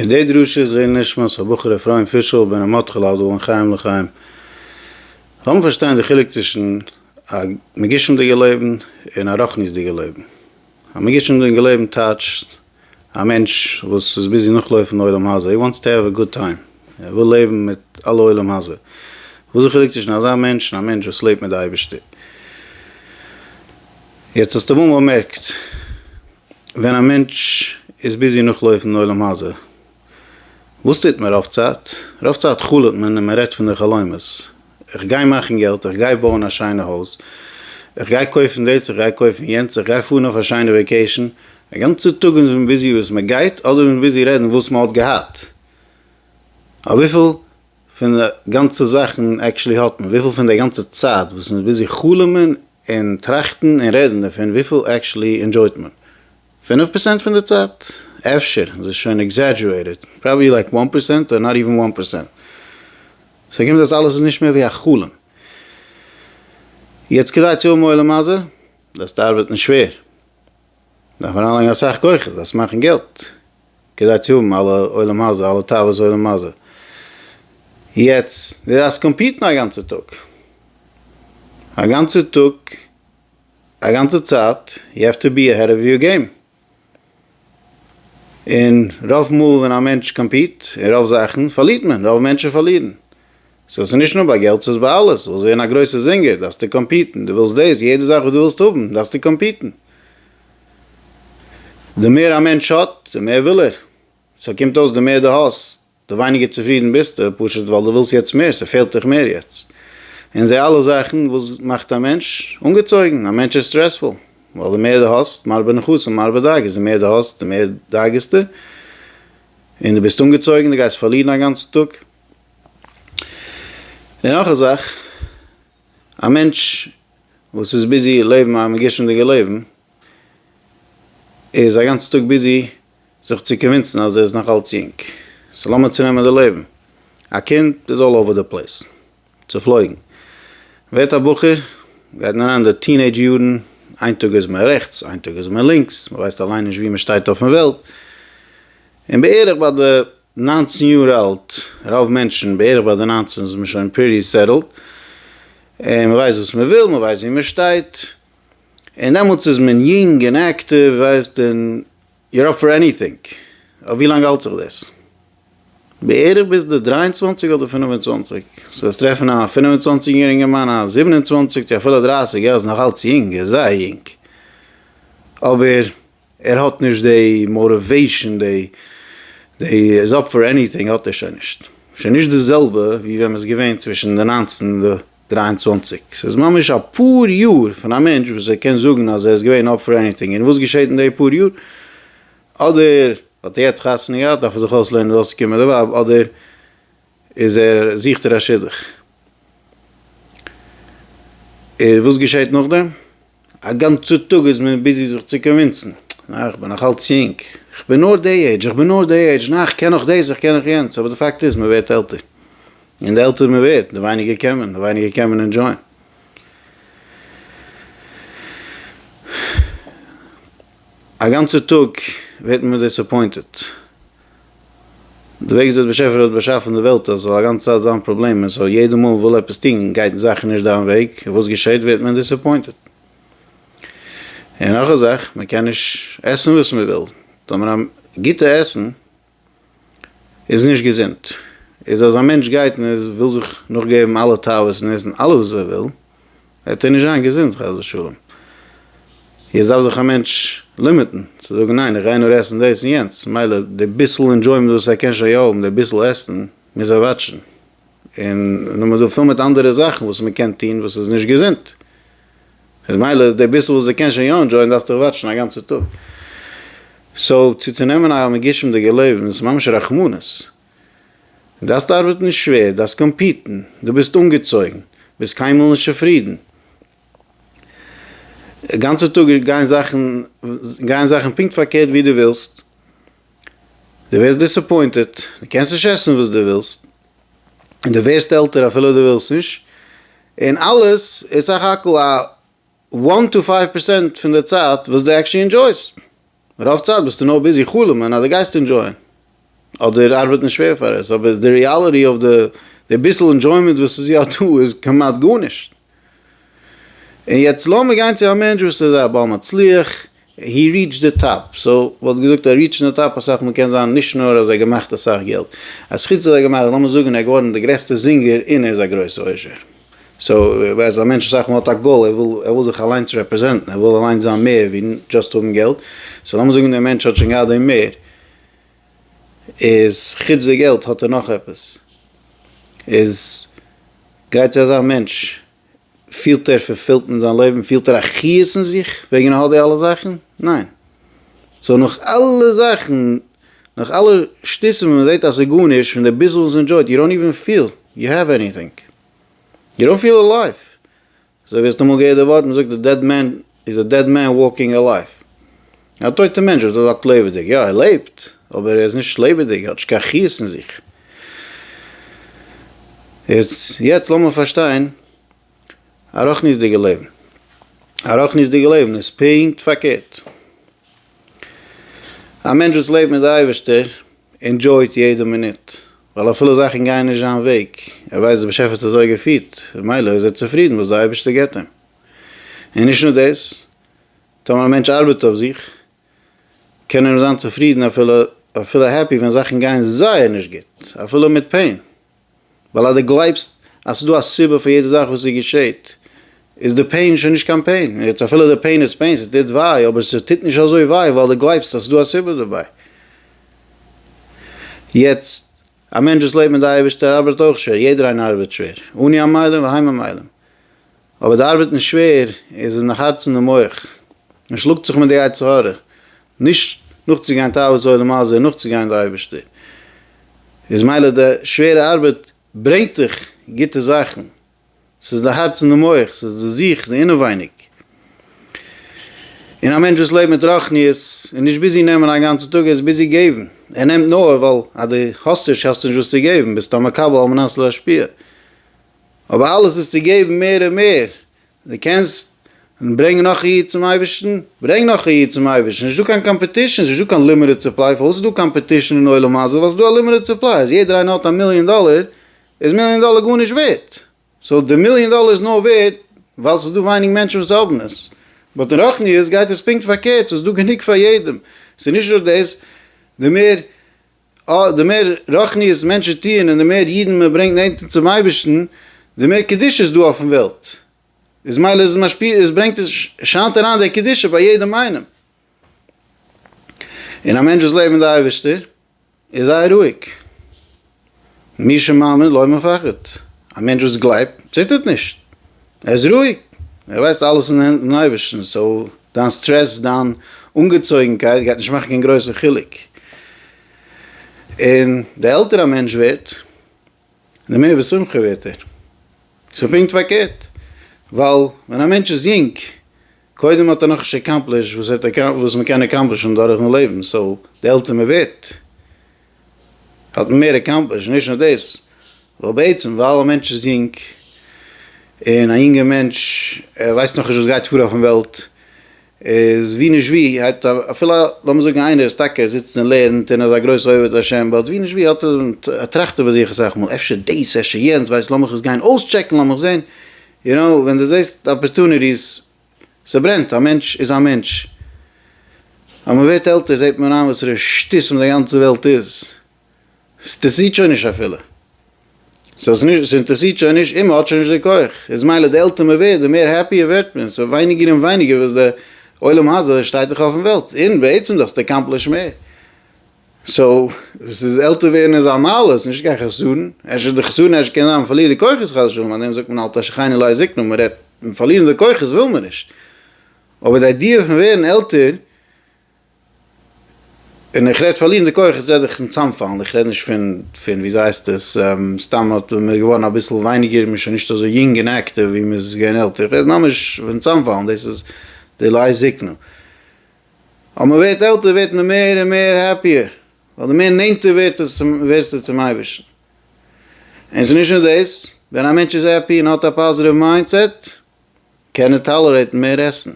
און די דרשה איז לעילוי נשמת הבחור אפרים פישל בן רמות חלאל זל בין חיים לחיים. לאמיר פארשטיין די חילוק צווישן א מגושם'דיגע לעבן און א רוחניות'דיגע לעבן. א מגושם'דיגע לעבן טייטשט א מענטש וואס איז ביזי נאכלויפן די עולם הזה, הי וואנטס טו העוו א גוד טיים, ער וויל לעבן מיט אלע עולם הזה. וואס איז די חילוק צווישן אזא מענטש און א מענטש וואס לעבט מיט די אייבערשטער? יעצט האסטו אמאל באמערקט. ווען א מענטש איז ביזי נאכלויפן עולם הזה, וואס טוט מען רוב צייט? רוב צייט חלומ'ט מען און מען רעדט פון די חלומות, איך גיי מאכן געלט, איך גיי בויען א שיינע הויז, איך גיי קויפן דאס, איך גיי קויפן יענץ, איך גיי פארן אויף א שיינע וועקעישן, א גאנצע טאג איז מען ביזי וואס מען גייט, אדער איז מען ביזי רעדן וואס מען האט געהאט, אויף וויפיל פון גאנצע זאכן עקשעלי האט מען? וויפיל פון די גאנצע צייט וואס מ'איז ביזי חלומ'ען און טראכטן און רעדן דערפון וויפיל עקשעלי ענדשויט מען? פינף פערסענט פון די צייט? אפשר איז עס שוין עקזעדזשורעיטעד, פראבעלי לייק וואן פערסענט אדער נאט איווען וואן פערסענט. ס'האט געמינט אז אלעס איז נישט מער ווי א חלום. יעצט כדי צו האבן עולם הזה דארפסטו ארבעטן שווער. דארף מען אריינלייגן אסאך כוחות זיי צו מאכן געלט כדי צו האבן אלע עולם הזה אלע תאוות עולם הזה, יעצט די דארפסט קאמפיטן א גאנצע טאג א גאנצע טאג א גאנצע צייט יו העוו טו בי עהעד אוו יור געים, און רוב מאל ווען א מענטש קאמפיט אין רוב זאכן פארלירט מען רוב מענטשן פארלירן סאו ס'איז נישט נאר ביי געלט ס'איז ביי אלעס, ווילסט ווערן א גרויסע זינגער דארפסטו קאמפיטן, דו ווילסט דאס, יעדע זאך וואס דו ווילסט האבן דארפסטו קאמפיטן, די מער א מענטש האט די מער וויל ער, סאו קומט אויס די מער דו האסט די ווייניגער צופרידן ביסטו, פשוט ווייל דו ווילסט יעצט מער, ס'פעלט דיך מער יעצט, און די אלע זאכן וואס מאכט א מענטש אנגעצויגן, א מענטש איז סטרעספול, ווייל די מער דו האסט מרבה נחשים מרבה דאגות, די מער דו האסט די מער דאגה'סטו, און דו ביסט אנגעצויגן, דו גייסט פארלירן א גאנצן טאג. און נאך א זאך, א מענטש וואס איז ביזי לעבן א מגושמ'דיגע לעבן, ער איז א גאנצן טאג ביזי זיך צו קאנווינסן אז ער איז נאך אלץ יונג, סאו לאמיר צונעמען די לעבן, א קינד איז אלל אווער די פלעיס, צופלויגן, ווערט א בחור, גייט מען אריין אין די טינעידזש יארן, איין טאג איז מען רעכטס, איין טאג איז מען לינקס, מען ווייסט אליין נישט וואו מען שטייט אויפן וועלט, און בערך ביי די. ניינצן יאר אלט, רוב מענטשן בערך ביי די ניינצן איז מען שוין פריטי סעטעלד, און מען ווייסט וואס מען וויל, מען ווייסט ווי מען שטייט, און דעמאלטס איז מען יונג און עקטיוו, ווייסט, און יור אפ פאר עניטינג, אויף ווי לאנג האלט זיך דאס? בערך ביז די דריי און צוואנציג אדער פינף און צוואנציג, סאו וועסט טרעפן א פינף און צוואנציג יעריגע מאן, א זיבן און צוואנציג צו אפילו דרייסיג, ער איז נאך אלץ יונג, ער איז זייער יונג, אבער ער האט נישט די מאטיוועישן, די די איז אפ פאר עניטינג האט ער שוין נישט, שוין נישט די זעלבע ווי ווען מ'איז געווען צווישן די נײַנצן און די דרײַ און צוואַנציק, ס'איז ממש אפאר יאר פון א מענטש וואס ער קען זאגן אז ער איז געווען אפ פאר עניטינג, און וואס געשעט אין די פאר יאר? אדער האט ער יעצט חתונה געהאט דארף ער זיך אויסלערנען דאס קומענדע ווייב, אדער איז ער זוכט ער א שידוך. און וואס געשעהט נאכדעם? א גאנצע טאג איז מען ביזי זיך צו קאנווינסן, נעה איך בין נאך אלץ יונג, איך בין נאר די עידזש, איך בין נאר די עידזש, נעה איך קען נאך דאס, איך קען נאך יענץ, אבער די פאקט איז מען ווערט עלטער, און די עלטער מען ווערט, די ווייניגער קען מען, די ווייניגער קען מען ענדזשויען. א גאנצע טאג ווערט מען דיסעפוינטעד. די וועג וויאזוי די באשעפער האט באשאפן די וועלט אז עס זאל א גאנצע צייט זיין פראבלעמען סאו יעדע מאל מען וויל עפעס טון גייט זאכן נישט דיין וועג וואס געשעט ווערט מען דיסעפוינטעד און נאך א זאך מען קען נישט עסן וואס מען וויל טאמער א גוטע עסן איז נישט געזונט איז אז א מענטש גייט און ער וויל זיך נאכגעבן אלע תאוות און עסן אלעס וואס ער וויל וועט ער נישט זיין געזונט חס ושלום. יעצט דארף זיך א מענטש לימיטן, צו זאגן ניין איך גיי נאר עסן דאס און יענץ, מילא די ביסל אינדזשוימענט וואס ער קען שוין יא האבן, די ביסל עסן מוז ער וואטשן. און נאך מ'איז דא פיל מיט אנדערע זאכן וואס מ'קען טון וואס איז נישט געזונט. איז מילא די ביסל וואס דו קענסט שוין יא אינדזשויען דארפסטו דאך וואטשן א גאנצע טאג. סאו צו צו נעמען א מגושמ'דיגע לעבן איז ממש רחמנות. דארפסט ארבעטן שווער, דארפסט קאמפיטן, דו ביסט אנגעצויגן, ביסט קיינמאל נישט צופרידן, גאנצע טאג גייען זאכן גייען זאכן פונקט פארקערט ווי דו ווילסט, דו ווערסט דיסעפוינטעט, דו קענסט נישט עסן וואס דו ווילסט, און דו ווערסט עלטער אפילו דו ווילסט נישט, און אלעס איז סך הכל א וואן טו פייוו פערסענט פון די צייט וואס דו עקשעלי ענדשויסט. רוב צייט ביסטו נאר ביזי חלומ'ען אז דו גייסט אינדזשויען, אדער ארבעטן שווער פאר עס, אבער די ריאליטי אויף די די ביסל אינדזשוימענט וואס איז יא דא איז כמעט גארנישט. און יעצט לאמיר גיין צו א מענטש וואס איז א בעל מצליח, הי ריעטשד די טאפ, סאו מ'וואלט געזאגט א ריעטשן די טאפ אסאך מאל קען זיין נישט נאר אז ער געמאכט אסאך געלט, אז חוץ אז ער געמאכט, לאמיר זאגן ער געווארן די גרעסטע זינגער און ער איז א גרויסע עושר. סאו איך ווייס א מענטש אסאך מאל האט א גאול ער וויל ער וויל זיך אליינס רעפרעזענטן ער וויל אליינס זיין מער ווי דשאסט האבן געלט, סאו לאמיר זאגן דער מענטש האט שוין געהאט דעם מער איז חוץ די געלט האט ער נאך עפעס איז גייט צו אזא מענטש פילט ער פולפילט אין זיין לעבן פילט ער א חיות אין זיך וועגן ער האט די אלע זאכן? ניין סאו נאך אלע זאכן נאך אלע שטיסן וואס מען זעט אז ס'איז גארנישט, פון די ביסל וואס ענדשויט, יו דאנט איווען פיל יו העוו עניטינג. יו דאנט פיל אלייוו. אזוי ווי האסט אמאל געהערט די ווארט, מ'זאגט א דעד מען איז א דעד מען וואלקינג אלייוו. א טויטע מענטש וואס וואקט לעבעדיג. יא ער לעבט, אבער ער איז נישט לעבעדיג, ער האט נישט קיין חיות אין זיך. יעצט לאמיר פארשטיין א רוחניות'דיגע לעבן. א רוחניות'דיגע לעבן איז פונקט פארקערט. א מענטש וואס לעבט מיט די אייבערשטער ענדזשויט יעדע מינוט, ווייל אפילו זאכן גייען נישט זיין וועג, ער ווייסט דער באשעפער האט אזוי געפירט, ממילא איז ער צופרידן וואס דער אייבערשטער געבט אים. און נישט נאר דאס, טאמער א מענטש ארבעט אויף זיך, קען ער זיין צופרידן אפילו אפילו העפי ווען זאכן גייען זייער נישט גוט, אפילו מיט פעין. ווייל אז די גלייבסט אז ס'איז דא א סיבה פאר יעדע זאך וואס ס'געשעהט, איז די פעין שוין נישט קיין פעין, און יעצט אפילו די פעין איז פעין, ס'טוט וויי, אבער ס'טוט נישט אזוי וויי ווייל די גלייבסט אז ס'איז דא א סיבה דערביי. יעצט, א מענטש וואס לעבט מיט די אייבערשטער ארבעט אויך שווער, יעדער איינער ארבעט שווער, אני המיילין והיי ממילין. אבער די ארבעט איז שווער, עס איז נאך הארץ אין די מח, מען שלאגט זיך מיט די יצר הרע, נישט נאכצוגיין תאוות עולם הזה און נאכצוגיין די אייבערשטער, איז מילא די שווערע ארבעט ברענגט דיך גוטע זאכן, עס איז די הארץ אין די מח, עס איז די זיך, די אינעווייניג. און א מענטש וואס לעבט מיט רוחניות איז נישט ביזי נעמען א גאנצע טאג, ער איז ביזי געבן, ער נעמט נאר ווייל אז דו האסט נישט האסטו נישט וואס צו געבן, ביסט א מקבל על מנת להשפיע, אבער אלעס איז צו געבן מער און מער, דו קענסט ברענגען נאך א איד צום אייבערשטן, ברענג נאך א איד צום אייבערשטן, ס'איז נישט דא קיין קאמפעטישן, ס'איז נישט דא קיין לימיטעד סופליי, פארוואס איז דא קאמפעטישן אין עולם הזה, ווייל ס'איז דא א לימיטעד סופליי, אז יעדער איינער האט א מיליאן דאלער, איז מיליאן דאלער גארנישט ווערט, סאו די מיליאן דאלער איז נאר ווערט ווייל ס'איז דא ווייניג מענטשן וואס האבן עס, באט אין רוחניות גייט עס פונקט פארקערט, ס'איז דא גענוג פאר יעדעם, ס'איז נישט נאר דאס, די מער אה, די מער רוחניות מענטשן טוען און די מער אידן מען ברענגט נענטער צום אייבערשטן, די מער קדושה איז דא אויפן וועלט, איז מילא איז עס משפיע, איז ברענגט עס, שיינט אריין דער קדושה ביי יעדעם איינעם. און א מענטש וואס לעבט מיט די אייבערשטער איז זייער רואיג. מי שמאמין לא מפחד, א מענטש וואס גלייבט, ציטערט נישט. ער איז רואיג, ער ווייסט אלעס אין הענט פון אייבערשטן, סאו דיין סטרעס, דיין אנגעצויגנקייט גייט נישט מאכן קיין גרויסע חילוק, און די עלטער א מענטש ווערט, די מער בשמחה ווערט ער, ס'פונקט פארקערט, ווייל ווען א מענטש איז יונג קודם האט ער נאך נישט עקאמפלישט וואס ער האט וואס מען קען עקאמפלישן דורכן לעבן, סאו די עלטער מען ווערט האט מען מער עקאמפלישט, נישט נאר דאס ווייל בעצם ווייל א מענטש איז יונג און א יונגער מענטש ער ווייסט נאכנישט וואס גייט פאר אויפן וועלט איז ווי נישט ווי הייבט אפילו לאמיר זאגן איינער איז טאקע ער זיצט און לערנט און ער איז א גרויסע עובד השם באט ווי נישט ווי האט ער טראכט איבער זיך אסאך מאל אפשר דאס אפשר יענץ ווייסט לאמיך עס גיין אויסטשעקן לאמיך זען יו קנאו ווען די זעסט אפערטוניטיס, סברענט, א מענטש איז א מענטש, אז מען ווערט עלטער זעט מען איין וואסערע שטותים די גאנצע וועלט איז, סטערסירט שוין נישט אפילו, סאינטערסירט שוין נישט און מען האט שוין נישט די כח, איז מילא די עלטער מען ווערט די מער העפי ווערט מען, סאיז ווייניגער און ווייניגער וואס די עולם הזה שטייט דיך אויפן וועלט, און בעצם די האסט עקאמפלישט מער. סאו ס'איז עלטער ווערן איז א מעלה, ס'איז נישט קיין חסרון, אפשר די חסרון אפשר קען זיין מ'פארלירט די כוחות חס ושלום, פארדעם זאגט מען אל תשחני לעת זקנה, מ'רעדט פון פארלירן די כוחות וויל מען נישט, אבער די איידיע פון ווערן עלטער, און איך רעד פארלירן די כוחות רעד איך פון צאמפאלן, איך רעד נישט פון פון ווי זייסט עס סתם האט מען איז געווארן אביסל ווייניגער, מען איז שוין נישט אזוי יונג און עקטיוו ווי מען איז געווען עלטער, איך רעד ממש פון צאמפאלן, דאס איז די לעת זקנה. אז מען ווערט עלטער ווערט מען מער און מער העפיער, ווייל די מער נענטער ווערסטו צום אייבערשטן. און ס'איז נישט נאר דאס, ווען א מענטש איז העפי און האט א פאזיטיוו מיינדסעט, קען ער טאלערעיטן מער עסן,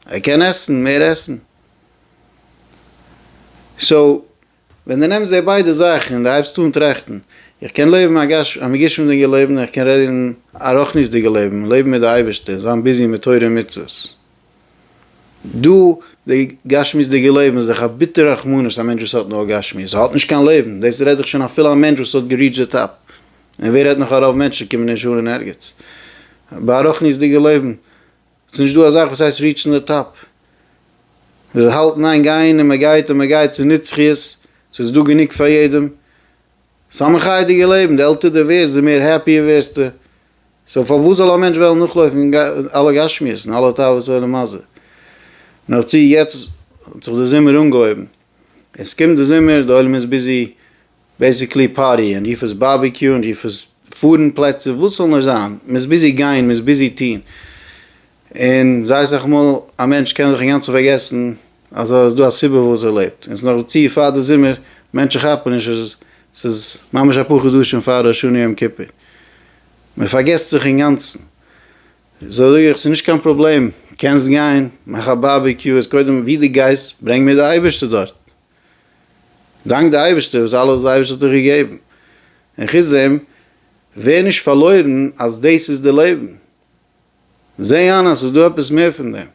ער קען עסן מער עסן. סאו, ווען דו נעמסט די ביידע זאכן און דו הייבסט אן טראכטן, איך קען לעבן א גשמיות'דיגע לעבן און איך קען רעדן א רוחניות'דיגע לעבן, לעבן מיט די אייבערשטער, זיין ביזי מיט תורה און מצוות. דא, די גשמיות'דיגע לעבן איז דאך א ביטערע רחמנות, א מענטש וואס האט נאר גשמיות האט נישט קיין לעבן, דאס רעד איך שוין אפילו א מענטש וואס האט געריעטש די טאפ, און ווער רעדט נאך אז רוב מענטשן קומען נישט אן אין ערגעץ ביי א רוחניות'דיגע לעבן, ס'איז נישט דא א זאך וואס הייסט ריעטשן די טאפ. מ'זאל האלטן איין גיין און מ'גייט און מ'גייט ס'איז נצחיות, ס'איז דא גענוג פאר יעדעם. ס'איז א מחייה'דיגע לעבן, די עלטער די ווערסט די מער העפי ווערסטו. סאו פארוואס זאל א מענטש וועלן נאכלויפן אלע גשמיות און אלע תאוות עולם הזה. נאך צו יעצט האט זיך די זומער אנגעהויבן. עס קומט די זומער, די עולם איז ביזי. בעסיקלי פארטי און רוף עס בארביקיו און רוף עס פארן פלעצער וואס ס'זאל נאר זיין, מען איז ביזי גיין, מען איז ביזי טון, און זייער סאך מאל א מענטש קען זיך אינגאנצן פארגעסן אז עס איז דא א סיבה פארוואס ער לעבט, און ס'נאך דערצו פאר די זומער, מענטשן כאפן נישט אז ס'איז ממש אפאר חדשים פאר ראש השנה יום כיפור, מען פארגעסט זיך אינגאנצן, סאו זאג איך ס'איז נישט קיין פראבלעם, קענסט גיין, מאך א בארביקיו, איז קודם ווי דו גייסט ברענג מיר די אייבערשטער דארט. דאנק די אייבערשטער וואס אלעס די אייבערשטער האט דיך געגעבן, און חוץ דעם ווער נישט פארלוירן אז דאס איז די לעבן, זע איין אז ס'איז דא עפעס מער פון דעם,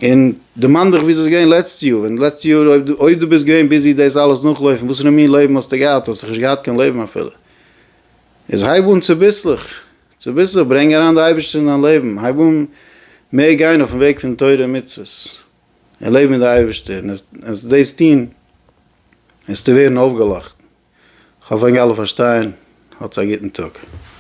און דערמאן דיך וויאזוי ס'איז געווען לעצטע יאר, ווען לעצטע יאר אויב דו ביסט געווען ביזי דאס אלעס נאכלויפן, וואסערע מין לעבן האסטו געהאט, האסט דאך נישט געהאט קיין לעבן אפילו, איז הייב אן צוביסלעך צוביסלעך ברענג אריין די אייבערשטער אין דיין לעבן, הייב אן מער גיין אויפן וועג פון תורה און מצוות. און לעב מיט די אייבערשטער, און עסט דאס טון וועסטו ווערן אויפגעלאכט, כ'האף ענק אלע פארשטייען, האטס א גוטן טאג.